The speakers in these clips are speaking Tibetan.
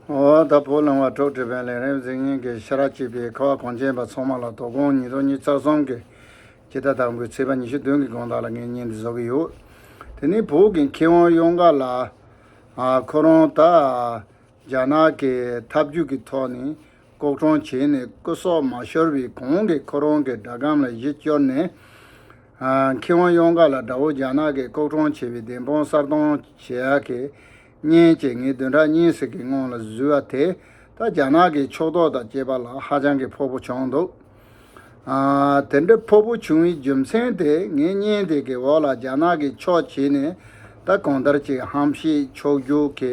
ད་བོ་ལུང་བ་གྲོགས་བྲིས་པའི་ལན་རེར་གཟིགས་སྙིང་གི་ཤ་ར་གཅིག་པའི་ཁ་བ་གངས་ཅན་པ་ཚང་མ་ལ་དོ་དགོང་ཉིས་སྟོང་ཉིས་རྩ་གསུམ་གྱི་དཔྱིད་ཟླ་དང་པོའི་ཚེས་པ་ཉི་ཤུ་བདུན་གྱི་དགོང་དག་ལ་ངས་བརྙན་འདི་བཟོ་གི་ཡོད། དེ་ནི་བོད་ཀྱི་མཁས་དབང་གཡོ་འགག་ལགས། ཁོ་རང་ད་རྒྱ་ནག་གི་ཐབས་ཇུས་ཀྱི་ཐོག་ནས་ལྐོག་གྲོང་བྱས་ནས་སྐུ་སྲོག་མ་ཤོར་བའི་གོང་གི་ཁོ་རང་གི་སྒྲ་སྒམ་ལ་གཞི་བཅོལ་ནས། མཁས་དབང་གཡང་དཀར་ལ་དགྲ་བོ་རྒྱ་ནག་གིས་ལྐོག་གྲོང་བྱས་པའི་བདེན་དཔང་གསར་གཏོང་བྱེད་ཡ་གི། མཉེན་ཅེས་ངས་བདུན་ཕྲག་གཉིས་ཟེར་གི་སྔོན་ལ་བཟོས་བ་དེ་ད་རྒྱ་ནག་གིས་ཕྱོགས་གཏོགས་དང་བཅས་པ་ལ་ཧ་ཅང་གི་ཕོག་པོ་བྱུང་འདུག་དེ་འདྲ་ཕོག་པོ་བྱུང་བའི་རྒྱུ་མཚན་དེ་ངས་བརྙན་དེ་གི་འོག་ལ་རྒྱ་ནག་གིས་ཕྱོགས་བྱས་ནས་ད་གང་ལྟར་ཅིག་ཧམ་བཤད་ཕྱོགས་རྒྱུགས་གི་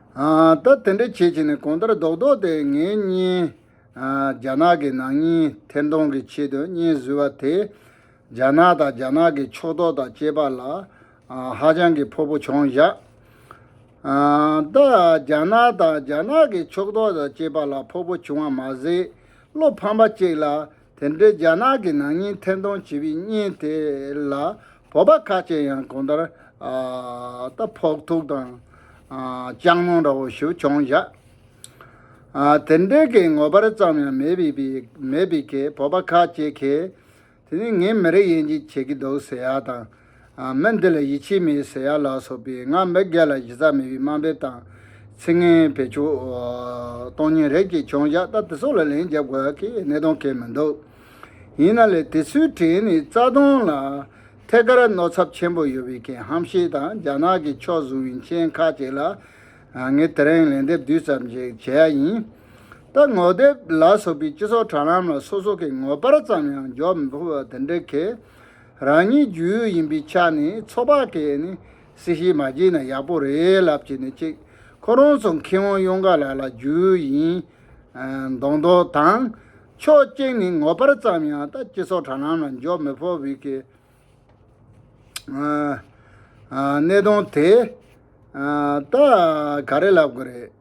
ད་དེ་འདྲ་བྱེད་བྱེད་ནས་གོང་ལྟར་རྡོག་རྡོག་དེ་ངའི་བརྙན། རྒྱ་ནག་གི་ནང་བརྙན་ཐེར་འདོང་གི་ཆེད་དུ་བརྙན་བཟོས་བ་དེས། རྒྱ་ནག་དང་རྒྱ་ནག་གི་ཕྱོགས་གཏོགས་དང་བཅས་པ་ལ་ཧ་ཅང་གི་ཕོག་པོ་བྱུང་བཞག། ད་རྒྱ་ནག་དང་རྒྱ་ནག་གི་ཕྱོགས་གཏོགས་དང་བཅས་པ་ལ་ཕོག་པོ་བྱུང་བ་མ་ཟད་བློ་ཕམ་པ་གཅིག་ལ་དེ་འབྲེལ་རྒྱ་ནག་གི་ནང་སྙིང་འཐེན་གཏོང་བྱེད་པའི་བརྙན་དེ་ལ་བོད་པ་ཁ་ཅིག་ཡང་གང་ལྟར་ད་ཕོག་ཐུག་དང་སྤྱང་མོ་འདྲ་བོ་ཞུ་འཁྱོང་བཞག་དེ་འབྲེལ་གྱི་ངོ་པར་ཙམ་ཡང་མེད་པའི་མེད་པའི་གས་བོད་པ་ཁ་ཅིག་གིས་དེ་ནི་ངས་མི་རིགས་དབྱེ་འབྱེད་བྱེད་ཀྱི་འདུག་ཟེར་ཡག་དང། མི་འདི་ལ་ཡིད་ཆེས་མེད་ཟེར་ཡ་ལགས་སོགས་པས་ང་མི་སྒེར་ལ་གཞི་རྩ་མེད་པའི་དམའ་འབེབས་དང་ཚིག་ངན་བེད་སྤྱོད་གཏོང་ཉིན་རེ་བཅས་བྱུང་བཞག་ད་དེ་སོགས་ལ་ལན་རྒྱབ་དགོས་ཀྱི་གནད་དོན་གལ་མི་འདུག་ཡིན་ན་ལས་དེ་ཚོའི་གྲས་ནས་རྩ་དོན་ལ་ཐད་ཀར་གནོད་ཚབ་ཆེན་པོ་ཡོད་པའི་རྐྱེན་ཧམ་བཤད་དང་རྒྱ་ནག་གི་ཕྱོགས་བཟུང་བའི་མཆན་ཁ་ཅིག་ལ་ངས་དེ་རིང་ལན་འདེབས་བསྡུས་ཙམ་ཞིག་བྱེད་ཡ་ཡིན། ད་ངོ་དེབ་ལ་སོགས་པའི་སྤྱི་ཚོགས་དྲ་ལམ་ལ་སོ་སོ་གི་ངོ་པར་ཙམ་ཡང་འཇོག་མི་ཕོད་པ་དེ་འདྲའི་གལ། རང་ཉིད་རྒྱུས་ཡོད་ཡིན་པའི་ཆ་ནས་ཚོགས་པ་དེས་ནི་སྲི་ཞིག་མ་བགྱིས་ན་ཡག་པོ་རེད་ལབ་ཀྱི་ནི་གཅིག་ཁོ་རང་ཚོ་མཁས་དབང་གཡུང་དཀར་ལགས་ལ་རྒྱུས་ཡིན་མདོག་མདོག་དང། ཕྱོགས་གཅིག་ནས་ངོ་པར་ཙམ་ཡང་ལྟ་སྤྱི་ཚོགས་དྲ་ལམ་ལ་འཇོག་མི་ཕོད་བའི་གི་གནད་དོན་དེ་ད་ག་རེ་ལབ་དགོས་རེད།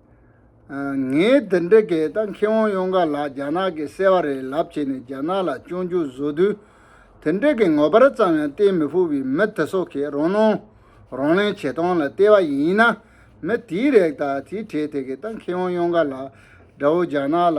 ངས་འདི་འདྲི་གི་ད་མཁས་དབང་གཡུང་དཀར་ལགས་རྒྱ་ནག་གི་གསལ་བ་རེད་ལབ་བྱས་ནས་རྒྱ་ནག་ལ་སྤྱོང་རྒྱུ་བཟོ་དུས་དེ་འདྲི་གི་ངོ་པར་ཙམ་ཡང་བལྟས་མི་ཕོད་པའི་མི་དེ་སོགས་ཀྱིས་རང་སྣང་རང་གླེང་བྱེད་སྟངས་ལ་བལྟས་པ་ཡིན་ན་མི་དེའི་རེག་ད་དེའི་གྲས་དེ་གི་ད་མཁས་དབང་གཡུང་དཀར་ལགས་འདྲ་བོ་རྒྱ་ནག་ལ་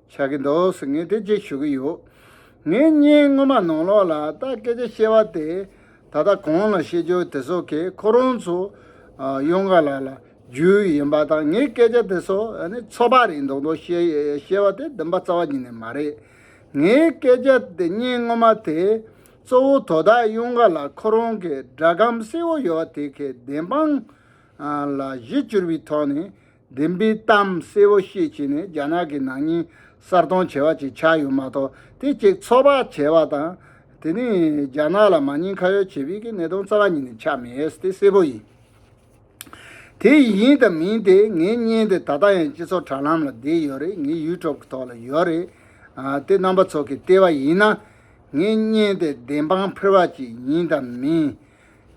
བྱ་གི་འདུག་ཟེར་ངས་དེ་རྗེས་ཞུ་གི་ཡོད། ངས་བརྙན་སྔོན་མ་ནང་ལོགས་ལ་ད་སྐད་ཆ་བཤད་བ་དེ་ད་ལྟ་གང་ལ་བཤད་རྒྱུ་དེ་ཚོ་གས་ཁོ་རང་ཚོ་གཡང་དཀར་ལགས་ལ་རྒྱུ་ཡིན་པ་དང་ངས་སྐད་ཆ་དེ་ཚོ་ཚོད་དཔག་རིགས་མདོག་མདོག་བཤད་བ་དེ་འདུན་པ་རྩ་བ་ཉིད་ནས་མ་རེད། ངའི་སྐད་ཆ་དེ་བརྙན་སྔོན་མ་དེས་གཙོ་བོ་དོ་བདག་གཡང་དཀར་ལགས་ཁོ་རང་གི་སྒྲ་སྒམ་སེར་བོ་ཡོད་བ་དེ་གས་བདེན་དཔང་ལ་གཞི་བཅུར་བའི་ཐོག་ནས་བདེན་པའི་གཏམ་གསལ་བོ་བཤད་བྱས་ནས་རྒྱ་ནག་གི་ནང་སྙིང་གསར་གཏོང་བྱས་པ་ཅིག་ཆགས་ཡོད་མ་གཏོགས་དེ་ཅིག་ཚོགས་པ་བྱས་པ་དང། དེ་ནི་རྒྱ་ནག་ལ་མ་ཉེས་ཁ་ཡོག་བྱེད་པའི་གི་གནད་དོན་རྩ་བ་ཉིད་ནས་ཆགས་མེད་དེ་གསལ་བོ་ཡིན། དེ་ཡིན་དང་མིན་དེ་ངས་བརྙན་དེ་ད་ལྟ་ཡང་སྤྱི་ཚོགས་དྲ་ལམ་ལ་བསྡད་ཡོད་རེད་ངའི་ཡུལ་གྲོགས་ཀྱི་ཐོག་ལ་ཡོད་རེད། དེ་རྣམ་པ་ཚོ་གིས་བལྟས་པ་ཡིན་ན། ངའི་བརྙན་དེ་བདེན་དཔང་ཕུལ་བ་ཅིག་ཡིན་དང་མིན།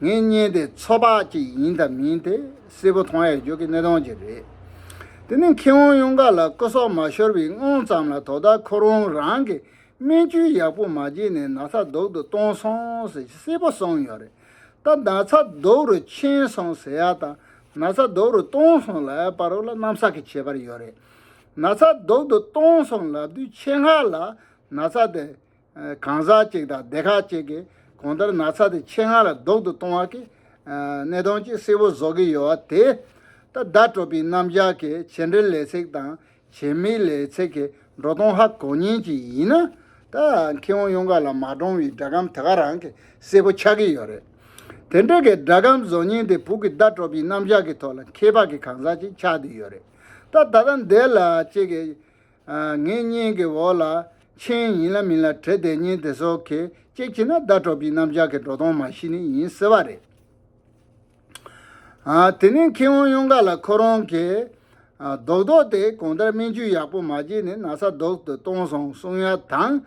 ངས་བརྙན་དེ་ཚོད་དཔག་ཅིག་ཡིན་དང་མིན་དེ་གསལ་པོ་མཐོང་ཡ་འཇུག་གི་གནད་དོན་ཅིག་རེད། དེ་ནི་མཁས་དབང་གཡུང་དཀར་ལ་སྐུ་སྲོག་མ་ཤོར་བའི་སྔོན་ཙམ་ལ་དོ་བདག་ཁོ་རང་རང་གི་སྨན་བཅོས་ཡག་པོ་མ་བྱས་ནས་ན་ཚ་དུག་ཏུ་བཏང་སོང་ཟེར་གྱི་གསལ་པོ་གསུངས་ཡོད་རེད། ད་ན་ཚ་དུག་རུ་ཕྱིན་སོང་ཟེར་ཡ་དང་ན་ཚ་དུག་རུ་བཏང་སོང་ལ་པ་རུ་ལ་གནམ་ས་གི་ཁྱད་པར་ཡོད་རེད། ན་ཚ་དུག་ཏུ་བཏང་སོང་ལབ་དུས་ཆེད་མངགས་ལ་ན་ཚ་དེ་གང་ཟག་གཅིག་དང་སྡེ་ཁག་གཅིག་གིས་གང་ལྟར་ན་ཚ་དེ་ཆེད་མངགས་ལ་ལྡོག་ཏུ་གཏོང་བ་གིས། གནས་སྟངས་ཀྱི་སྲིད་བོ་བཟོ་གི་ཡོད་བ་དེ། ད་ལྟ་བྲོ་པིའི་རྣམ་གཞག་གི་བྱེད་འབྲེལ་ལས་ཚེགས་དང་བྱེད་མིའི་ལས་ཚེགས་ཀྱི་འགྲོ་སྟངས་ཧ་གོ་ཉིན་ཅིག་ཡིན་ན། ད་ཁྱེད་ཨོ་ཡུང་ག་ལ་མ་བགྲོང་བའི་སྒྲ་སྒམ་དེ་ག་རང་གི་སྲིད་བོ་ཆགས་ཀྱི་ཡོད་རེད། དེ་འདྲ་གི་སྒྲ་སྒམ་བཟོ་ཉིན་དེ་བུག་གི་ད་བྲོ་པིའི་རྣམ་གཞག་གི་ཐོག་ལ་མཁས་པ་གི་གང་ཟག་ཅིག་ཆགས་དུས་ཡོད་རེད། ད་ད་ལྟ་འདས་ལ་གཅིག་གིས། ངས་བརྙན་གྱི་འོག་ལ་མཆན་ཡིན་ལ་མིན་ལ་བྲེལ་ཏེ་བརྙན་དེ་སོག་གེ་ཅེས་བྱས་ན་བརྡ་སྤྲོད་པའི་རྣམ་གཞག་གི་འགྲོ་སྟངས་མ་ཤེས་ནི་ཡིན་ཟེར་བ་རེད། དེ་ནས་མཁས་དབང་གཡུང་དཀར་ལ་ཁོ་རང་གིས་རྡོག་རྡོག་དེ་གང་ལྟར་སྨན་བཅོས་ཡག་པོ་མ་བྱས་ནས་ན་ས་རྡོག་ཏུ་གཏོང་སོང་གསུང་ཡ་དང།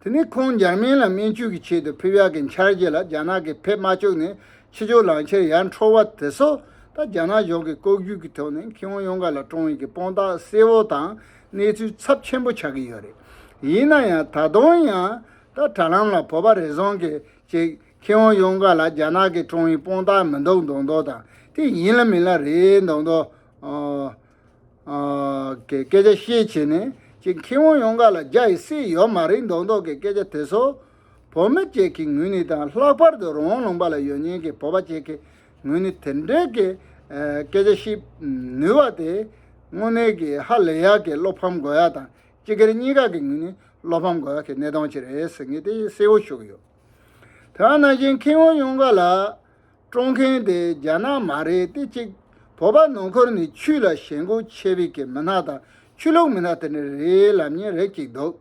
དེ་ནས་ཁོང་འཇར་མན་ལ་སྨན་བཅོས་ཀྱི་ཆེད་དུ་ཕེབས་ཡག་གི་འཆར་གཞི་ལ་རྒྱ་ནག་གིས་ཕེབས་མ་བཅུག་ནས་ཕྱི་ཕྱོགས་ལངས་ཕྱིར་ཡར་འཕྲོ་བ་དེ་སོགས་དང་རྒྱ་ནག་གཞུང་གི་ལྐོག་གྱུར་གྱི་ཐོག་ནས་ཁེ་དབང་ཡོངས་ཀ་ལ་བཀྲོངས་ཡོད་ཀྱི་དཔང་རྟགས་གསལ་བོ་དང་གནས་ཚུལ་ཚབས་ཆེན་པོ་ཆགས་ཀྱི་ཡོད་རེད། ཡིན་ན་ཡང་ད་དུང་ཡང་ད་དྲ་ལམ་ལ་བོད་པ་རེ་ཟུང་གིས་ཀྱི་ཁེ་དབང་ཡོངས་ཀ་ལ་རྒྱ་ནག་གིས་བཀྲོངས་ཡོད་དཔང་རྟགས་མི་འདུག་མདོག་མདོག་དང་དེ་ཡིན་ལ་མིན་ལ་རེད་མདོག་མདོག། གི་སྐད་ཆ་བཤད་བྱས་ནས་ཀྱི་མཁས་དབང་ཡོངས་ཀ་ལ་རྒྱ་ཡི་སྲིད་ཡོད་མ་རིག་མདོག་མདོག་གི་སྐད་ཆ་དེ་ཚོ་བོད་མི་བཅས་ཀྱི་ངོས་ནས་དང་ལྷག་པར་དུ་རང་ལུང་པ་ལ་ཡོད་ཉེན་གྱི་བོད་པ་བཅས་ཀྱི་ངོས་ནས་དེ་འདྲའི་གི་སྐད་ཆ་བཤད་ནུས་བ་དེ་དངོས་གནས་གི་ཧ་ལས་ཡག་གི་བློ་ཕམ་དགོས་ཡག་དང་སྤྱི་སྒེར་གཉིས་ཀ་གི་ངོས་ནས་བློ་ཕམ་དགོས་ཡག་གི་གནས་སྟངས་ཅིག་རེད་ཟེར་ངེས་དེ་གསལ་བོ་ཞུ་གི་ཡོད་དེ་བ་ན་ཀྱི་མཁས་དབང་ཡོངས་ཀ་ལ། སྤྲོ་མཁན་དེ་རྒྱ་ནག་མ་རེད་དེ་གཅིག་བོད་པ་ནང་འཁོར་ནས་ཆུ་ལ་ཞེན་གོ་ཆེ་བི་གི་མི་ནག་དང་ཆུ་ལུག་མི་ནག་དེ་འདྲ་རེ་ལབ་ཉེན་རེ་གཅིག་འདུག་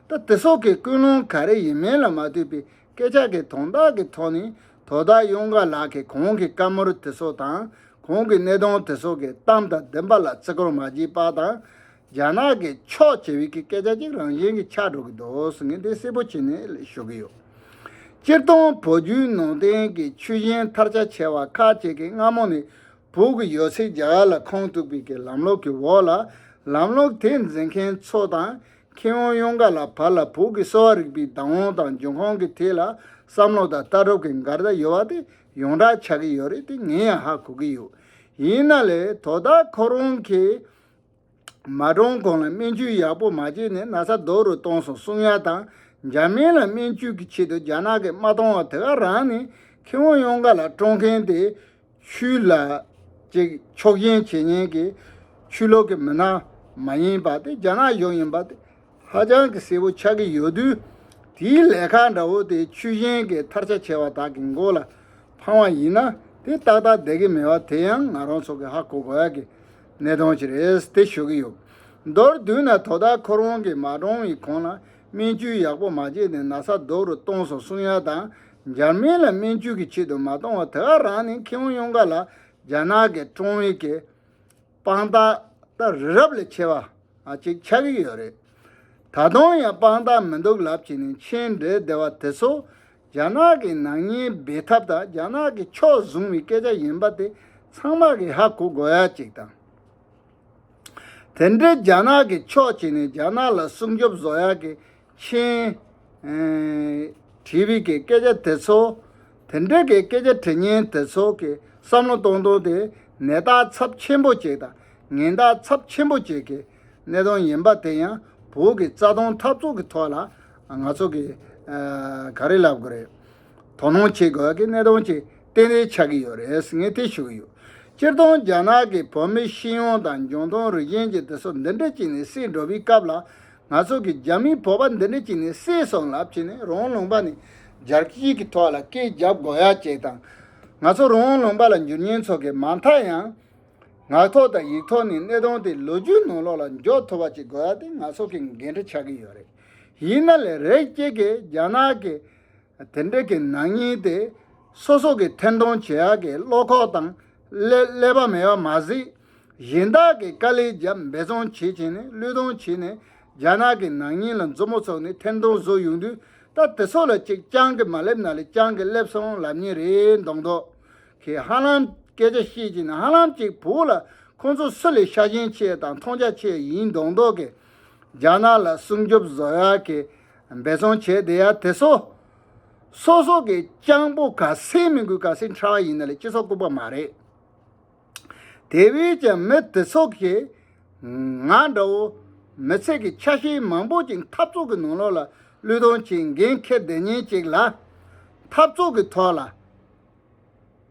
ད་དེ་སོག་གི་ཀུན་སློང་ག་རེ་ཡིན་མིན་ལ་མ་ལྟོས་པའི་སྐད་ཆ་གི་དོན་དག་གི་ཐོག་ནས་དོ་བདག་གཡུང་དགའ་ལགས་གི་གོང་གི་བཀའ་མོལ་དེ་སོག་དང་གོང་གི་གནད་དོན་དེ་སོག་གི་གཏམ་དང་བདེན་པ་ལ་བརྩི་བཀུར་མ་བགྱིས་པ་དང་རྒྱ་ནག་གི་ཕྱོགས་བྱེད་བིག་གི་སྐད་ཆ་གཅིག་རང་བཞིན་གྱི་ཆགས་འགྲོ་གི་འདུག་ངས་འདི་གསལ་པོ་བྱེད་ནས་ཞུ་གི་ཡོད། སྤྱིར་བཏང་བོད་བརྒྱུད་ནང་བསྟན་གྱི་ཆུ་གཞན་ཐར་ཆ་ཆེ་བ་ཁག་ཅིག་གིས་སྔ་མོ་ནས་བོད་ཀྱི་ཡོད་ཚད་རྒྱ་གར་ལ་ཁུངས་གཏུགས་བིག་གི་ལམ་ལུགས་ཀྱི་འོག་ལ་ལམ་ལུགས་དེ་འཛིན་མཁན་ཚོ་དང་མཁས་དབང་གཡུང་དཀར་ལ་བར་ལ་བོད་ཀྱི་གསོ་བ་རིག་པའི་བདག་དབང་དང་འབྱུང་ཁུངས་ཀྱི་ཐད་ལ་བསམ་བློ་དང་ལྟ་གྲུབ་ཀྱི་འགལ་ཟླ་ཡོད་པ་དེ་ཡོངས་གྲགས་ཆགས་ཀྱི་ཡོད་རེད་དེ་ངས་ཡང་ཧ་གོ་གི་ཡོད། ཡིན་ན་ལས་དོ་བདག་ཁོ་རང་གིས། མ་འདྲོངས་གོང་ལ་སྨན་བཅོས་ཡག་པོ་མ་བྱས་ནས་ན་ཚ་རྡོག་རུ་གཏོང་སོང་གསུང་ཡ་དང་འཇར་མན་ལ་སྨན་བཅོས་ཀྱི་ཆེད་དུ་རྒྱ་ནག་གི་དམག་གཏོང་བ་དེ་ག་རང་ནི་ཁེ་དབང་ཡོངས་ཀ་ལ་སྤྲོ་མཁན་དེ་ཆུའི་ལ་ཅིག་ཕྱོགས་ཞེན་བྱེད་ཉེན་གྱི་ཆུ་ལོག་གི་མི་སྣ་མ་ཡིན་པ་དེ་རྒྱ་ནག་གཞུང་ཡིན་པ་དེ་ཧ་ཅང་གི་གསལ་བོ་ཆགས་ཀྱི་ཡོད་དུས་དེའི་ལས་ཁ་འདྲ་བོ་དེ་ཆུ་ཞེན་གྱི་མཐར་ཆ་བྱས་བ་དག་གི་མགོ་ལ་འཕང་བ་ཡིན་ན་དེ་ཏག་ཏག་བསྡད་ཀྱི་མེད་བ་དེ་ཡང་ང་རང་ཚོ་གི་ཧ་གོ་དགོས་ཀྱི་ནས་གཏོང་གི་རེད་དེ་ཤོད་ཀྱི་ཡོད། མདོར་བསྡུས་ན་དོ་བདག་ཁོ་རང་གིས་མ་འདྲོང་བའི་གོང་ལ་སྨན་བཅོས་ཡག་པོ་མ་བྱས་ནས་ན་ཚ་རྡོག་རུ་གཏོང་སོང་གསུང་ཡག་དང་འཇར་མན་ལ་སྨན་བཅོས་ཀྱི་ཆེད་དུ་མ་གཏོང་བར་དེ་ག་རང་ནས་མཁས་དབང་གཡང་དཀར་ལ་རྒྱ་ནག་གི་ཀྲོང་ཝེ་གི་དཔང་རྟགས་རྟགས་རི་རབ་ལས་ཆེ་བ་གཅིག་ཆགས་ཀྱི་ཡོད་རེད། ད་དུང་ཡང་དཔང་རྟགས་མི་འདུག་ལབ་བྱས་ནས་མཆན་འགྲེལ་བདེ་བ་དེ་ཚོ་རྒྱ་ནག་གི་ནག་ཉེས་འབེལ་ཐབས་དང་རྒྱ་ནག་གི་ཕྱོགས་བཟུང་བའི་སྐད་ཆ་ཡིན་པ་དེ་ཚང་མ་རེད་ཧ་གོ་དགོས་ཡ་གཅིག་དང། དེ་འདྲའི་རྒྱ་ནག་གི་ཕྱོགས་བྱས་ནས་རྒྱ་ནག་ལ་སྲུང་སྐྱོབ་བཟོ་ཡ་གི་མཁྱེན། དྲི་བའི་གི་སྐད་ཆ་དེ་ཚོ། དེ་འདྲའི་གི་སྐད་ཆ་དྲི་ཉན་དེ་ཚོ་གི་བསམ་བློ་གཏོང་གཏོང་དེ་ནད་རྟགས་ཚབས་ཆེན་པོ་བྱས་དང་ངན་རྟགས་ཚབས་ཆེན་པོ་བྱས་གི་གནས་སྟངས་ཡིན་པ་དེ་ཡང་བོད་ཀྱི་རྩ་དོན་འཐབ་རྩོད་ཀྱི་ཐོག་ལ་ང་ཚོ་གིས་ག་རེ་ལབ་དགོས་རེད། དོ་སྣང་བྱེད་དགོས་ཀྱི་གནས་སྟངས་ཅིག་གཏན་རེ་ཆགས་ཀྱི་ཡོད་རེད་ངས་དེ་ཞུ་གི་ཡོད། སྤྱིར་བཏང་རྒྱ་ནག་གི་བོད་མི་ཤེས་ཡོན་དང་འབྱུང་སྟངས་རུས་ཆེན་གྱི་དེ་ཚོ་འདི་འདྲ་ཅིག་ནས་བསད་འགྲོ་བའི་སྐབས་ལ་ང་ཚོ་གིས་རྒྱ་མིའི་བོད་པ་འདི་འདྲ་ཅིག་ནས་བསད་སོང་ལབ་ཅིག་ནས་རང་ལུང་པ་ནས་རྒྱལ་སྤྱིའི་གི་ཐོག་ལ་སྐད་བརྒྱབ་དགོས་ཡ་ཅིག་དང། ང་ཚོ་རང་ལུང་པ་ལ་འགྱུར་ཉེན་ཚོགས་ཀྱི་མ་མཐའ་ཡང་ངག་ཐོག་དང་ཡིག་ཐོག་ནས་གནད་དོན་དེ་ལོ་རྒྱུས་ནང་ལོགས་ལ་འཇོག་ཐུབ་པ་ཅིག་དགོས་པ་དེ་ང་ཚོ་གི་འགན་འཁྲི་ཆགས་ཀྱི་ཡོད་རེད། ཡིན་ན་ལས་རེས་གཅིག་གིས་རྒྱ་ནག་གི་དེ་འབྲེལ་གྱི་ནག་ཉེས་དེ་སོ་སོ་གི་འཐེན་གཏོང་བྱེད་ཡག་གི་བློ་ཁོག་དང་ཀླད་པ་མེད་པ་མ་ཟིག་གཞན་དག་གི་དཀའ་ལས་བརྒྱབ་འབད་བརྩོན་བྱེད་བྱེད་ནས་བློས་གཏོང་བྱེད་ནས་རྒྱ་ནག་གི་ནག་ཉེས་ལ་མཛུབ་མོ་ཚུགས་ནས་འཐེན་གཏོང་བཟོ་ཡོང་དུས་ད་དེ་ཚོ་ལ་ཅིག་རྐྱང་གི་མ་སླེབས་ན་ལས་རྐྱང་གི་སླེབས་སོང་ལབ་ཉེས་རེད་མདོག་མདོག་ཁྱེད་ཧ་ལམ་སྐད་ཆ་བཤད་ཀྱི་ནི་ཧ་ལམ་ཅིག་བོད་ལ་ཁོང་ཚོ་སུ་ལས་ཤ་ཞེན་ཆེ་དང་མཐོང་རྒྱ་ཆེ་ཡིན་མདོག་མདོག་གིས་རྒྱ་ནག་ལ་སྲུང་སྐྱོབ་བཟོ་ཡག་གི་འབད་བརྩོན་བྱས་བསྡད་ཡག་དེ་སོ་སོ་སོ་གི་སྤྱང་པོ་ག་སེ་མི་དགོས་ག་སེ་འཁྲ་བ་ཡིན་ན་ལས་སྤྱི་ཚོགས་ལྐུག་པ་མ་རེད། དེ་བས་ཀྱང་མི་དེ་ཚོ་གིས་ང་འདྲ་བོ་མི་ཚེ་གི་ཆ་ཤས་མང་པོ་ཅིག་འཐབ་རྩོད་གི་ནང་ལོག་ལ་བློས་གཏོང་བྱེད་འགན་འཁེར་བསྡད་ཉེན་ཅིག་ལ། འཐབ་རྩོད་གི་ཐོག་ལ།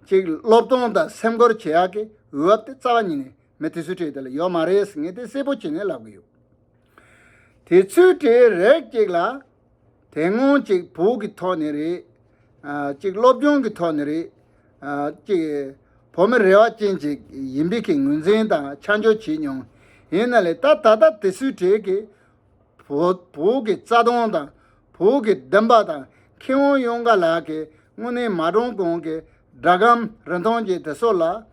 གཅིག་སློབ་སྟོང་དང་སེམས་ཁུར་བྱེད་ཡག་གི་འོས་བབ་དེ་རྩ་བ་ཉིད་ནས་མི་དེ་ཚོའི་གྲས་དེ་ལ་ཡོད་མ་རེད་ཟེར་ངེས་དེ་གསལ་པོ་བྱེད་ནས་ལབ་གི་ཡོད། དེ་ཚོའི་གྲས་རེག་ཅིག་ལ། དེ་སྔོན་གཅིག་བོུ་གི་ཐོག་ནས་རེད། གཅིག་སློབ་སྦྱོང་གི་ཐོག་ནས་རེད། གཅིག་བོ་མི་རེ་བ་ཅན་ཅིག་ཡིན་པི་ཁི་ངོས་འཛིན་དང་ཆ་འཇོག་བྱེད་མྱོང། ཡིན་ན་ལེ་ད་ད་ལྟ་དེ་ཚོའི་གྲས་ཀི་བོུ་གི་རྩ་སྟོང་དང་བོད་ཀྱི་བདེན་པ་དང་མཁས་དབང་གཡོན་དགའ་ལགས་ཀྱིས་དངོས་གནས་མ་འདྲོངས་གོང་གི་སྒྲ་སྒམ་རིན་ཐང་ཅན་དེ་སོགས་ལ།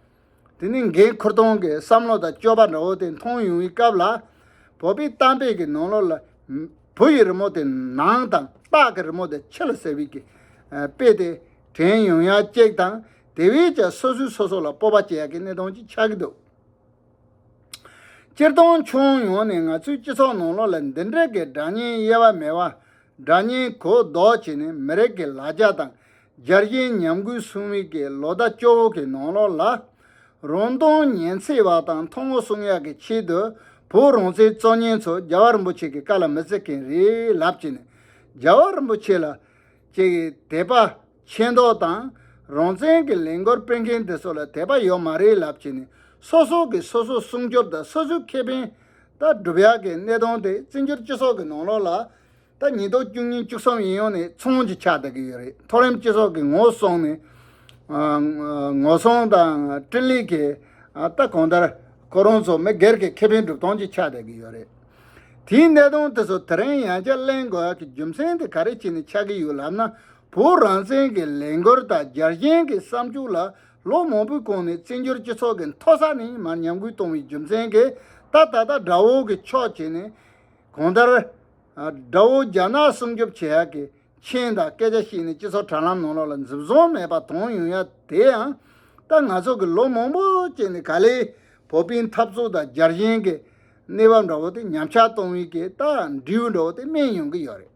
དེ་ནི་འགན་ཁུར་སྟངས་ཀྱི་བསམ་བློ་དང་སྤྱོད་པ་འདྲ་བོ་དེ་མཐོང་ཡོང་བའི་སྐབས་ལ། བོད་པའི་གཏམ་དཔེ་གྱི་ནང་ལོགས་ལ། བུ་ཡི་རི་མོ་དེ་ནང་དང་སྟག་གི་རི་མོ་དེ་ཕྱི་ལ་ཟེར་བའི་གི་དཔེ་དེ་དྲན་ཡོང་ཡ་གཅིག་དང་དེ་བས་ཀྱང་སོ་སོས་སོ་སོ་ལ་སྤོབས་པ་སྐྱེ་ཡ་གི་གནས་སྟངས་ཅིག་ཆགས་ཀྱི་འདུག། སྤྱིར་བཏང་ཕྱོགས་ཡོངས་ནས་ང་ཚོའི་སྤྱི་ཚོགས་ནང་ལོ་ལ་འདི་འདྲའི་གི་སྒྲ་སྙན་དབྱེ་བ་མེད་པ། སྒྲ་སྙན་གོ་ལྡོག་བྱས་ནས་མི་རིགས་ཀྱི་ལ་རྒྱ་དང་སྦྱར་གཞན་ཉམས་རྒུད་གསུང་མིག་གི་ལོ་ཟླ་སྐྱོ་བོ་གི་ནང་ལོ་ལ། རོང་སྟོང་ཉན་ཚེ་བ་དང་མཐོང་ངོ་གསུང་ཡག་གི་ཆེད་དུ་བོད་རོང་ཚའི་གཙོ་སྙན་ཚོ་རྒྱ་བ་རིན་པོ་ཆེ་གི་བཀའ་ལ་མི་བརྩི་མཁན་རེད་ལབ་ཅེས་ནས་རྒྱ་བ་རིན་པོ་ཆེ་ལ། ཅེས་དད་པ། མཁྱེན་རྟོགས་དང་རང་བཙན་གྱི་ལས་འགོར་སྤེལ་མཁན་དེ་ཚོ་ལ་དད་པ་ཡོད་མ་རེད་ལབ་ཀྱི་ནས་སོ་སོ་གིས་སོ་སོ་སྲུང་སྐྱོབ་དང་སོ་སོའི་ཁེ་ཕན་ད་སྒྲུབ་ཡག་གི་གནས་སྟངས་དེ་བཙན་བྱོལ་སྤྱི་ཚོགས་ཀྱི་ནང་ལོག་ལ་ད་ཉིས་སྟོང་བཅུ་གཉིས་བཅུ་གསུམ་ཡིན་ཡོང་ནས་མཚུངས་ཀྱི་ཆགས་བསྡད་ཀྱི་ཡོད་རེད་མཐོ་རིམ་སྤྱི་ཚོགས་ཀྱི་ངོ་སོང་ནས་ངོ་སོང་དང་སྤྲིན་ལས་ཀྱི་ད་གང་ལྟར་ཁོ་རང་ཚོ་མི་སྒེར་གྱི་ཁེ་ཕན་སྒྲུབ་སྟངས་ཀྱི་ཆགས་བསྡད་ཀྱི་ཡོད་རེད་དེའི་གནས་སྟངས་དེ་ཚོ་དེ་རིང་ཡང་བསྐྱར་གླེང་དགོས་ཡག་གི་རྒྱུ་མཚན་དེ་ག་རེ་བྱས་ནས་ཆགས་ཀྱི་ཡོད་ལབ་ན་བོད་རང་བཙན་གྱི་ལས་འགུལ་དང་རྒྱ་གཞན་གྱི་བསམ་སྤྱོད་ལ་ལོ་མང་པོའི་གོང་ནས་བཙན་བྱོལ་སྤྱི་ཚོགས་ཀྱི་མཐོ་ས་ནས་མར་ཉམས་རྒུད་གཏོང་བའི་རྒྱུ་མཚན་གྱིས་ད་ད་ལྟ་དགྲ་བོ་གི་ཕྱོགས་བྱས་ནས། གང་ལྟར། དགྲ་བོ་རྒྱ་ནག་སྲུང་སྐྱོབ་བྱེད་ཡག་གི་མཁྱེན་དང་སྐད་ཆ་བཤད་ནས་སྤྱི་ཚོགས་དྲ་ལམ་ནང་ལོག་ལ་འཛུབ་བཟང་མེད་པ་དང་ཡང་ཡང་དེ་ཡང་ད་ང་ཚོ་གི་ལོ་མང་པོ་བསྐྱལ་ནས་ག་ལེ་བོད་པའི་འཐབ་རྩོད་དང་རྒྱ་གཞན་གྱི་གནས་བབ་འདྲ་བོ་དེ་ཉམས་ཆག་གཏོང་བའི་གི་ད་འབྲས་བུ་འདྲ་བོ་དེ་སྨིན་ཡོང་གི་ཡོད་རེད།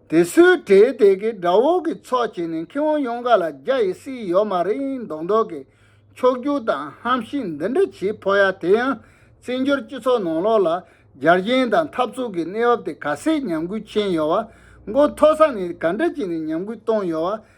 དེ་སུའི་གྲས་དེ་གའི་དགྲ་བོ་གི་ཚོགས་བྱས་ནས་ཁྱེད་དབང་ཡོངས་ག་ལ་རྒྱ་ཡི་སྲིད་ཡོད་མ་རེད་མདོག་མདོག་གི་ཕྱོགས་སྒྱུར་དང་ཧམ་བཤད་འདི་འདྲ་བྱེད་ཕོ་ཡ་དེ་ཡང་བཙན་བྱོལ་སྤྱི་ཚོགས་ནང་ལོག་ལ་རྒྱ་རྒྱན་དང་འཐབ་རྩོད་གི་གནས་བབ་དེ་ག་སེད་ཉམས་རྒུད་ཆེན་ཡོད་བ་མགོ་མཐོ་ས་ནས་ག་འདྲ་བྱས་ནས་ཉམས་རྒུད་གཏོང་ཡོད་བ་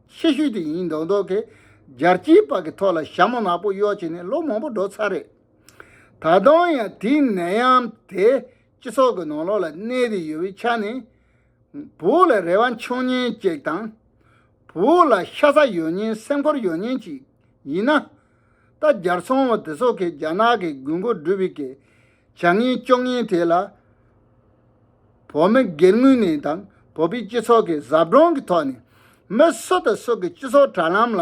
ཤེད་ཤུལ་དེ་ཡིན་མདོག་མདོག་གིས། སྦྱར་སྐྱིའི་པགས་ཀྱི་ཐོག་ལ་ཞྭ་མོ་ནག་པོ་གཡོག་བྱས་ནས་ལོ་མང་པོ་འགྲོ་ཚར་རེད། ད་དུང་ཡང་དེའི་ནད་ཡམས་དེ་སྤྱི་ཚོགས་ཀྱི་ནང་ལོགས་ལ་གནས་བསྡད་ཡོད་པའི་ཆ་ནས། བུ་ལ་རེ་བ་འཆང་ཉེན་གཅིག་དང། བུ་ལ་ཤ་ཚ་ཡོད་ཉེན་སེམས་ཁུར་ཡོད་ཉེན་གཅིག་ཡིན་ན། ད་རྒྱར་ཚོང་བ་དེ་ཚོ་གིས་རྒྱ་ནག་གི་དགོས་མཁོ་སྒྲུབ་པའི་གལ་བྱ་ངན་སྐྱོན་ངན་དེ་ལ་བོད་མི་སྒེར་ངོས་ནས་དང་བོད་པའི་སྤྱི་ཚོགས་ཀྱི་ཟབ་སྦྱོང་གི་ཐོག་ནས་མི་སུ་དང་སུ་གི་སྤྱི་ཚོགས་དྲ་ལམ་ལ་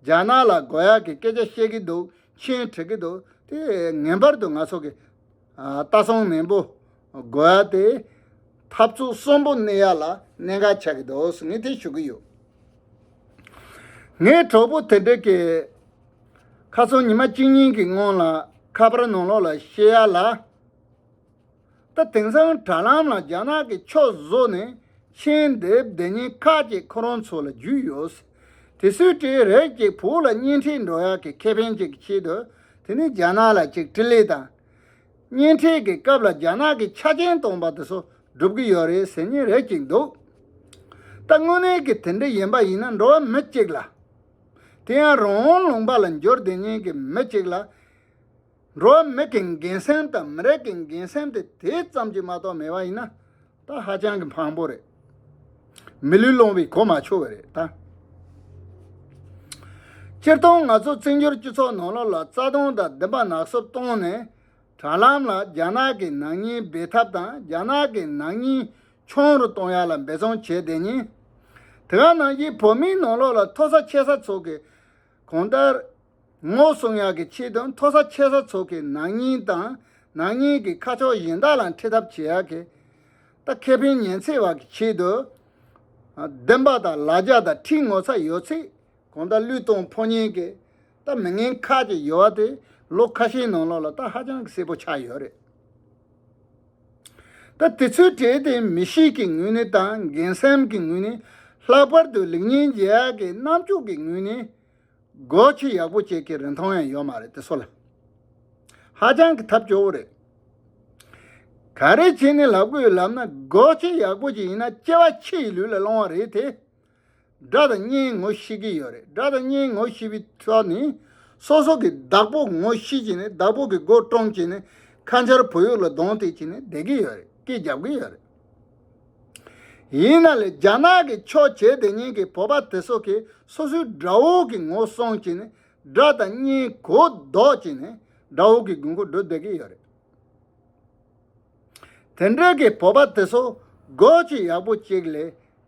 རྒྱ་ནག་ལ་དགོས་ཡག་གི་སྐད་ཆ་བཤད་གི་འདུག་མཆན་བྲི་གི་འདུག་དེ་ངན་པར་དུ་ང་ཚོ་གི་ལྟ་སྲུང་ནན་པོ་དགོས་ཡག་དེ་འཐབ་རྩོད་གསོན་པོ་གནས་ཡག་ལ་གནད་འགག་ཆགས་གི་འདུག་ངས་དེ་ཞུ་གི་ཡོད། ངས་གྲོགས་པོ་དེ་འདྲ་གི། ཁ་སང་ཉི་མ་གཅིག་གཉིས་ཀྱི་སྔོན་ལ་ཁ་པར་ནང་ལོག་ལ་ཤེས་ཡ་ལ། ད་དེང་སང་དྲ་ལམ་ལ་རྒྱ་ནག་གི་ཕྱོགས་བཟོ་ནས་མཆན་འདེབས་བདེ་གཉིས་ཁག་ཅིག་ཁོ་རང་ཚོ་ལ་བརྒྱུད་ཡོད། དེ་སུས་བྲིས་རེད་ཅེས་བོད་ལ་བརྙན་འཕྲིན་འགྲོ་ཡག་གི་ཁེ་ཕན་ཅིག་གི་ཆེད་དུ་དེ་ནི་རྒྱ་ནག་ལ་ཅིག་དྲི་ལེ་དང། བརྙན་འཕྲིན་གྱི་སྐབས་ལ་རྒྱ་ནག་གི་ཆ་རྐྱེན་སྟོང་པ་དེ་ཚོ་སྒྲུབ་ཀྱི་ཡོད་རེད་ཟེར་ཉེན་རེ་ཅིག་འདུག། ད་དངོས་གནས་ཀྱི་དེ་འདྲ་ཡིན་པ་ཡིན་ན་འགྲོ་བ་མི་གཅིག་ལ་དེ་ཡང་རང་དབང་ལུང་པ་ལ་འབྱོར་བདེ་གཉིས་ཀྱི་མི་གཅིག་ལ། འགྲོ་བ་མི་གི་འགན་སེམས་དང་མི་རིགས་ཀྱི་འགན་སེམས་དེ་དེ་ཙམ་གྱིས་མ་གཏོགས་མེད་པ་ཡིན་ན། ད་ཧ་ཅང་གི་འཕངས་པོ་རེད། མི་ལུས་སློང་བའི་གོ་མ་ཆོད་བ་རེད་ད། སྤྱིར་བཏང་ང་ཚོ་བཙན་བྱོལ་སྤྱི་ཚོགས་ནང་ལོག་ལ་རྩ་སྟོང་དང་བདུན་པ་ནག་སུབ་བཏང་ནས། དྲ་ལམ་ལ་རྒྱ་ནག་གི་ནག་ཉེས་སྦས་ཐབས་དང་རྒྱ་ནག་གི་ནག་ཉེས་ཆུང་རུ་གཏོང་ཡག་ལ་འབད་བརྩོན་བྱས་བསྡད་ཉིན། དེ་ག་ནང་བཞིན་བོད་མིའི་ནང་ལོགས་ལ་མཐོ་ས་ཆེ་ས་ཚོགས་གིས་གང་ལྟར། ངོ་སྲུང་ཡག་གི་ཆེད་དུ་མཐོ་ས་ཆེ་ས་ཚོགས་གིས་ནང་སྙིང་དང་ནང་སྙིང་གི་ཁ་ཕྱོགས་གཞན་དག་ལ་འཁྲིད་ཐབས་བྱེད་ཡག་གི། ད་ཁེ་ཕན་ཉེན་ཚེ་བར་གི་ཆེད་དུ། བདེན་པ་དང་ལ་རྒྱ་དང་ཁྲིད་ངོ་ཚ་ཡོད་ཚིག་གང་ལྟར་བློས་གཏོང་ཕོག་ཉེན་གི། ད་མི་ངན་ཁག་གཅིག་ཡོད་བ་དེ་ལོ་ཁ་ཤས་ནང་ལོགས་ལ་ད་ཧ་ཅང་གི་གསལ་པོ་ཆགས་ཡོད་རེད། སྐབས་དེ་ཚོའི་གྲས་དེ་མི་གཤིས་ཀྱི་ངོས་ནས་དང་འགན་སེམས་ཀྱི་ངོས་ནས་ལྷག་པར་དུ་ལེགས་ཉེས་འབྱེད་ཡག་གི་རྣམ་དཔྱོད་ཀྱི་ངོས་ནས་སྒོ་ཕྱེ་ཡག་པོ་བྱེད་མཁན་རིན་ཐང་ཡང་ཡོད་མ་རེད་དེ་སོགས་ལ་ཧ་ཅང་གི་ཐབས་སྐྱོ་བོ་རེད། ག་རེ་བྱས་ནས་ལག་པོའི་ལམ་ན་སྒོ་ཕྱེ་ཡག་པོ་བྱེད་ཡིན་ན་སྐྱེ་བ་ཕྱི་ཡི་ལུས་ལ་བླང་བ་རེད་དེ། སྒྲ་དང་བརྙན་ངོ་ཤེས་ཀྱི་ཡོད་རེད་སྒྲ་དང་བརྙན་ངོ་ཤེས་པའི་ཐོག་ནས་སོ་སོ་གི་བདག་པོ་ངོ་ཤེས་ཀྱི་ནས་བདག་པོ་གི་མགོ་བཀྲོངས་ཀྱི་ནས་ཁ་མཆར་བོད་ཡུག་ལ་གདོང་གཏད་ཀྱི་ནས་བསྡད་ཀྱི་ཡོད་རེད་སྐད་རྒྱབ་ཀྱི་ཡོད་རེད། ཡིན་ན་ལས་རྒྱ་ནག་གི་ཆོས་བྱེད་དེ་ཉིན་གི་བོད་པ་དེ་ཚོ་གི་སོ་སོའི་དགྲ་བོ་གི་ངོ་སོང་ཀྱི་ནས་སྒྲ་དང་བརྙན་གོ་ལྡོག་ཀྱི་ནས་དགྲ་བོ་གི་དགུན་ཁུག་འགྲོ་བསྡད་ཀྱི་ཡོད་རེད། དེ་འདྲའི་གི་བོད་པ་དེ་ཚོ་དགོས་ཀྱི་ཡག་པོ་གཅིག་ལས་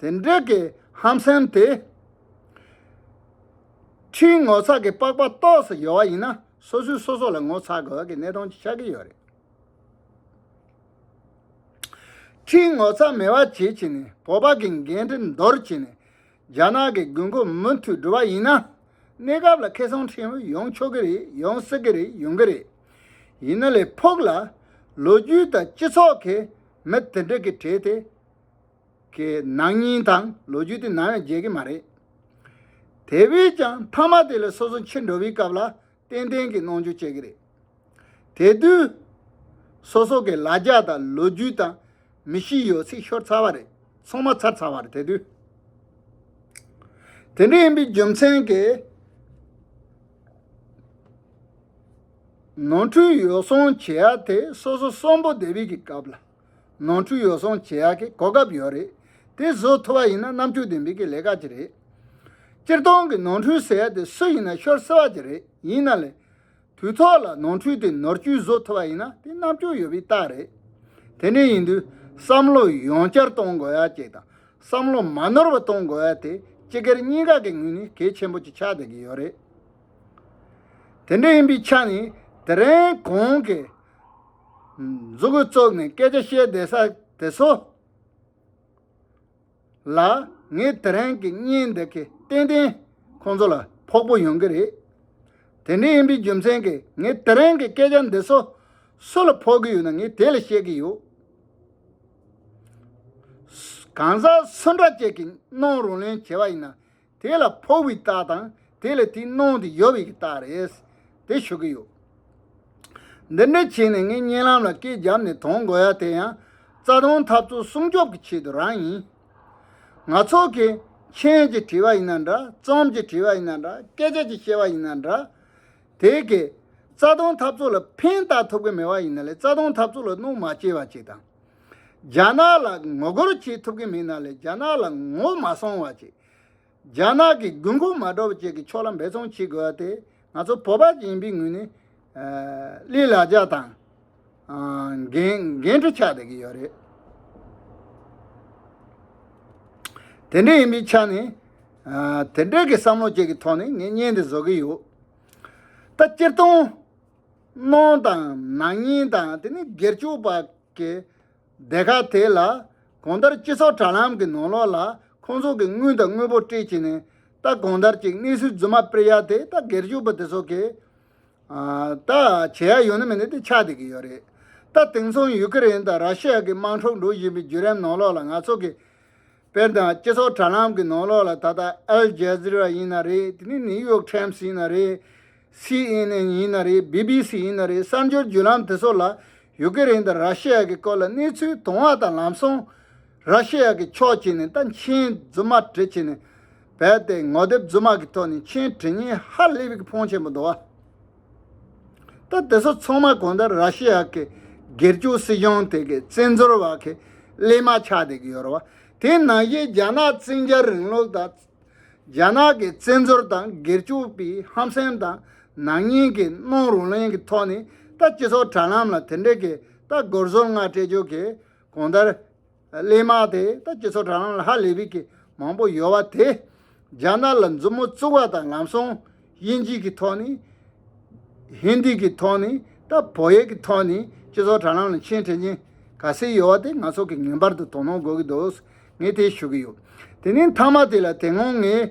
དེ་འདྲའི་གི་ཧམ་སེམས་དེ། ཕྱིའི་ངོ་ཚ་གི་པགས་པ་ལྟོགས་སུ་ཡོད་བ་ཡིན་ན་སོ་སོས་སོ་སོ་ལ་ངོ་ཚ་དགོས་གི་གནས་སྟངས་ཅིག་ཆགས་གི་ཡོད་རེད། ཕྱིའི་ངོ་ཚ་མེད་བ་བྱེད་ཅིག་ནས་བོད་པ་གི་འགན་འཁྲི་འདོར་ཅིག་ནས་རྒྱ་ནག་གི་དགོས་མཁོ་མུ་མཐུད་སྒྲུབ་བ་ཡིན་ན་གནས་སྐབས་ལ་ཁེ་སང་ཕྲན་བུ་ཡོང་ཆོག་གི་རེད་ཡོང་སྲིད་གི་རེད་ཡོང་གི་རེད། ཡིན་ན་ལས་ཕུགས་ལ། ལོ་རྒྱུས་དང་སྤྱི་ཚོགས་གི་མི་དེ་འདྲ་གི་གྲས་དེ། གི་ནང་སྙིང་དང་ལོ་རྒྱུས་དེ་ནམ་ཡང་བརྗེད་ཀྱི་མ་རེད། དེ་བས་ཀྱང་མཐའ་མ་དེ་ལས་སོ་སོ་འཆི་འགྲོ་བའི་སྐབས་ལ་ཏན་ཏན་གྱི་གནོང་འགྱོད་བྱེད་ཀྱི་རེད། དེ་དུས་སོ་སོ་གི་ལ་རྒྱ་དང་ལོ་རྒྱུས་དང་མི་གཤིས་ཡོད་ཚད་ཤོར་ཚར་བ་རེད་ཚོང་མ་ཚར་ཚར་བ་རེད་དེ་དུས། དེ་འདྲ་ཡིན་པའི་རྒྱུ་མཚན་གྱིས། ནོར་འཁྲུལ་ཡོ་བསྲང་བྱེད་ཡ་དེ་སོ་སོ་གསོན་པོ་བསྡད་པའི་གི་སྐབས་ལ། ནོར་འཁྲུལ་ཡོ་བསྲང་བྱེད་ཡག་གི་གོ་སྐབས་ཡོད་རེད། དེ་བཟོ་ཐུབ་པ་ཡིན་ན་རྣམ་དཔྱོད་ལྡན་པའི་གི་ལས་ཀ་གྱི་རེད། སྤྱིར་བཏང་གི་ནོར་འཁྲུལ་ཟེར་ཡ་དེ་སུ་ཡིན་ན་ཤོར་སྲིད་པ་གྱི་རེད་ཡིན་ན་ལས། དུས་ཐོག་ལ་ནོར་འཁྲུལ་དེ་ནོར་བཅོས་བཟོ་ཐུབ་པ་ཡིན་ན་དེ་རྣམ་དཔྱོད་ཡོད་པའི་རྟགས་རེད། དེ་འདྲ་ཡིན་དུས་བསམ་བློ་ཡང་བསྐྱར་གཏོང་དགོས་ཡ་གཅིག་དང་བསམ་བློ་མ་ནོར་བ་གཏོང་དགོས་ཡ་དེ་སྤྱི་སྒེར་གཉིས་ཀ་གི་ངོས་ནས་གལ་ཆེན་པོ་གཅིག་ཆགས་བསྡད་ཀྱི་ཡོད་རེད། དེ་འདྲ་ཡིན་པའི་ཆ་ནས་དེ་རིང་གོང་གི། མཛུ་གུ་བཙུགས་ནས་སྐད་ཆ་བཤད་བསྡད་ས་དེ་ཚོ་ལ་ངས་དེ་རིང་གི་བརྙན་འདི་གིས་ཏན་ཏན་ཁོང་ཚོ་ལ་ཕོག་པོ་ཡོང་གི་རེད། དེ་འདྲ་ཡིན་པའི་རྒྱུ་མཚན་གྱིས་ངས་དེ་རིང་གི་སྐད་ཆ་འདི་ཚོ་སུ་ལ་ཕོག་གི་ཡོད་ན་ངས་དེ་ལ་བཤད་ཀྱི་ཡོད། གང་ཟག་སུ་འདྲ་ཅིག་གིས་གནོང་རུང་ལེན་བྱས་པ་ཡིན་ན། དེ་ལ་ཕོག་པའི་རྟགས་དང་དེ་ལས་དེའི་གནོང་དེ་ཡོད་པའི་རྟགས་རེད། དེ་ཤོད་ཀྱི་ཡོད། འདི་འདྲའི་ཆེད་ནས་ངས་བརྙན་ལམ་ལ་སྐད་བརྒྱབ་ནས་དོང་དགོས་ཡ་དེ་ཡང་རྩ་དོན་འཐབ་རྩོད་སྲུང་སྐྱོབ་ཀྱི་ཆེད་དུ་རང་ཡིན། ང་ཚོ་གིས་མཆན་གྱིས་བྲིས་པ་ཡིན་ན་འདྲ་རྩོམ་གྱིས་བྲིས་པ་ཡིན་ན་འདྲ་སྐད་ཆ་གྱིས་བཤད་པ་ཡིན་ན་འདྲ། དེ་གས་རྩ་དོན་འཐབ་རྩོད་ལ་ཕན་བཏགས་ཐུབ་ཀྱི་མེད་པ་ཡིན་ན་ལས་རྩ་དོན་འཐབ་རྩོད་ལ་གནོང་མ་སྐྱེལ་བ་བཅས་དང། རྒྱ་ནག་ལ་ངོ་རྒོལ་བྱེད་ཐུབ་ཀྱི་མིན་ནམ་ལས་རྒྱ་ནག་ལ་ངོ་མ་སོང་བ་བྱེད། རྒྱ་ནག་གི་དགོས་མཁོ་མ་སྒྲོག་པ་བཅས་ཀྱི་ཕྱོགས་ལ་འབད་བརྩོན་བྱེད་དགོས་པ་དེ་ང་ཚོ་བོད་པ་ཞིག་ཡིན་པའི་ངོས་ནས་ཀླད་ལ་འཇགས་དང་འགན་འཁྲི་ཆགས་བསྡད་ཀྱི་ཡོད་རེད། དེ་འདྲ་ཡིན་པའི་ཆ་ནས་དེ་འདྲ་གི་བསམ་བློ་བཅས་ཀྱི་ཐོག་ནས་ངས་བརྙན་འདི་བཟོ་གི་ཡོད། ད་སྤྱིར་བཏང། གནོང་དང་ནག་ཉེས་དང་དེ་ནི་སྒེར་སྤྱོད་པ་ཀྱི་སྡེ་ཁག་དེ་ལ་གང་ལྟར་སྤྱི་ཚོགས་དྲ་ལམ་གྱི་ནང་ལོགས་ལ་ཁོང་ཚོ་གིས་དངུལ་དང་དངོས་པོ་སྤྲད་ཀྱིས་ནས་རྟ་གང་ལྟར་གྱི་གནས་ཚུལ་རྫུན་མ་སྤེལ་ཡ་དེ་རྟ་སྒེར་གཅོད་པོ་དེ་ཚོ་གིས་ད་བྱེད་ཡ་ཡོད་ན་མེད་ན་དེ་ཆགས་བསྡད་ཀྱི་ཡོད་རེད་ད་དེང་སང་ཡུག་ཀེ་རེན་དང་ར་ཤི་ཡ་གི་དམངས་ཁྲོད་འགྲོ་བཞིན་པའི་བརྒྱུད་རམ་ནང་ལོགས་ལ་ང་ཚོ་གིས་དཔལ་དང་སྤྱི་ཚོགས་དྲ་ལམ་གྱི་ནང་ལོགས་ལ་ད་ལྟ་ཨལ་རྗ་ཟི་ར་ཡིན་ན་རེད་དེ་ནི་ནིའུ་ཡོག་ཁྲེམས་སི་ཡིན་ན་རེད། སི་ཨེན་ཨེན་ཡིན་ན་རེད་སྦི་སྦི་སི་ཡིན་ན་རེད་གསར་འགྱུར་བརྒྱུད་ལམ་དེ་ཚོ་ལ་ཡུ་ཀེ་རེན་དང་ར་ཤི་ཡ་གི་སྐོར་ལ་གནས་ཚུལ་དུང་བ་དང་ལམ་སོང། ར་ཤི་ཡ་གི་ཕྱོགས་ཀྱིས་ནི་ད་མཆན་རྫུན་མ་བྲིས་ཁྱི་ནི་བལ་ཏེ་ངོ་དེབ་རྫུན་མ་གི་ཐོག་ནས་མཆན་བྲིས་ཉིན་ཧ་ལས་པིག་ཕོང་ཆེན་པོ་འདུག་བ། ད་དེ་ཚོ་ཚང་མ་གང་ལྟར་ར་ཤི་ཡ་གི་སྒེར་གཅོད་སྲིད་གཞུང་དེ་གི་བཙན་འཛུལ་བ་གི་གླེས་མ་ཆགས་བསྡད་ཀྱི་ཡོད་ར་བ། དེ་ནང་བཞིན་རྒྱ་ནག་བཙན་རྒྱལ་རིང་ལུགས་དང། རྒྱ་ནག་གི་བཙན་འཛུལ་དང་སྒེར་གཅོད་པའི་ཧམ་སེམས་དང་ནག་ཉེས་གི་སྣང་རུང་ལེན་གི་ཐོག་ནས་ད་སྤྱི་ཚོགས་དྲ་ལམ་ལ་དེ་འདྲ་གི་ད་སྒོར་ཟོར་ལྔ་སྤྲད་རྒྱུ་གི་གོང་ལྟར། གླེན་དམག་དེ་ད་སྤྱི་ཚོགས་དྲ་ལམ་ལ་ཧ་ལས་པའི་གི་མང་པོ་ཡོད་བ་དེ། རྒྱ་ནག་ལ་མཛུབ་མོ་བཙུགས་བ་དང་ལམ་སོང་དབྱིན་ཇིས་གི་ཐོག་ནས། Hindi། གི་ཐོག་ནས་ད་བོད་ཡིག་གི་ཐོག་ནས་སྤྱི་ཚོགས་དྲ་ལམ་ལ་མཆན་འཕྲིན་མཁན་ག་ཚད་ཡོད་བ་དེ་ང་ཚོ་གི་ངེས་པར་དུ་དོ་སྣང་དགོས་གི་འདུག་ངས་དེ་ཞུ་གི་ཡོད། དེ་ནས་མཐའ་མ་དེ་ལ་དེ་སྔོན་ངས་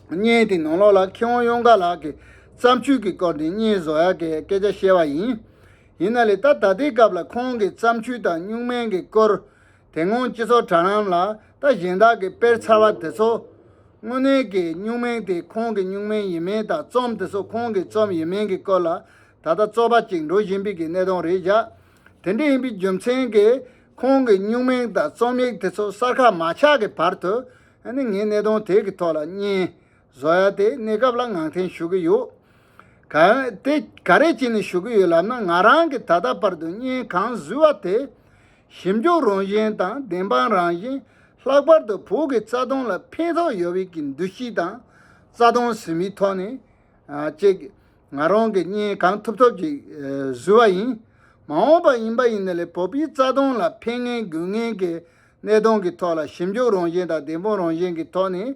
བརྙན་དེ་ནང་ལོགས་ལ་མཁས་དབང་གཡུང་དཀར་ལགས་ཀྱི་བརྩམས་ཆོས་ཀྱི་སྐོར་དེ་བརྙན་བཟོ་ཡག་གི་སྐད་ཆ་བཤད་བ་ཡིན། ཡིན་ན་ལེ་ད་ད་ལྟའི་སྐབས་ལ་ཁོང་གི་བརྩམས་ཆོས་དང་སྨྱུག་མན་གྱི་སྐོར་དེ་སྔོན་སྤྱི་ཚོགས་དྲ་ལམ་ལ་ད་གཞན་དག་གིས་སྤེལ་ཚར་བ་དེ་ཚོ། དངོས་གནས་ཀྱི་སྨྱུག་མན་དེ་ཁོང་གི་སྨྱུག་མན་ཡིན་མིན་དང་རྩོམ་དེ་ཚོ་ཁོང་གི་རྩོམ་ཡིན་མིན་གྱི་སྐོར་ལ་ད་ལྟ་རྩོད་པ་ཅིག་འགྲོ་བཞིན་པའི་གི་གནད་དོན་རེད་བཞག་དེ་འདྲ་ཡིན་པའི་རྒྱུ་མཚན་གྱིས་ཁོང་གི་སྨྱུག་མན་དང་རྩོམ་ཡིག་དེ་ཚོ་གསར་ཁ་མ་ཆགས་ཀྱི་བར་དུ་ནི་ངས་གནད་དོན་དེ་གི་ཐོག་ལ་བརྙན་བཟོ་ཡ་དེ་གནས་སྐབས་ལ་ངང་འཐེན་ཞུ་གི་ཡོད། དེ་ག་རེ་བྱས་ནས་ཞུ་གི་ཡོད་ལབ་ན་ང་རང་གིས་ད་ལྟ་བར་དུ་བརྙན་གང་བཟོས་བ་དེ་ཞིབ་འཇུག་རང་བཞིན་དང་བདེན་དཔང་རང་བཞིན་ལྷག་པར་དུ་བོད་ཀྱི་རྩ་དོན་ལ་ཕན་ཐོགས་ཡོད་བའི་ཀྱི་འདུ་ཤེས་དང་རྩ་དོན་ཟིན་པའི་ཐོག་ནས་ཅིག་ང་རང་གིས་བརྙན་གང་ཐུབ་ཐུབ་ཅིག་བཟོས་བ་ཡིན། མ་འོངས་པ་ཡིན་པ་ཡིན་ན་ལས་བོད་པའི་རྩ་དོན་ལ་ཕན་ངན་དགོས་ངན་གྱི་གནད་དོན་གྱི་ཐོག་ལ་ཞིབ་འཇུག་རང་བཞིན་དང་བདེན་དཔང་རང་བཞིན་གྱི་ཐོག་ནས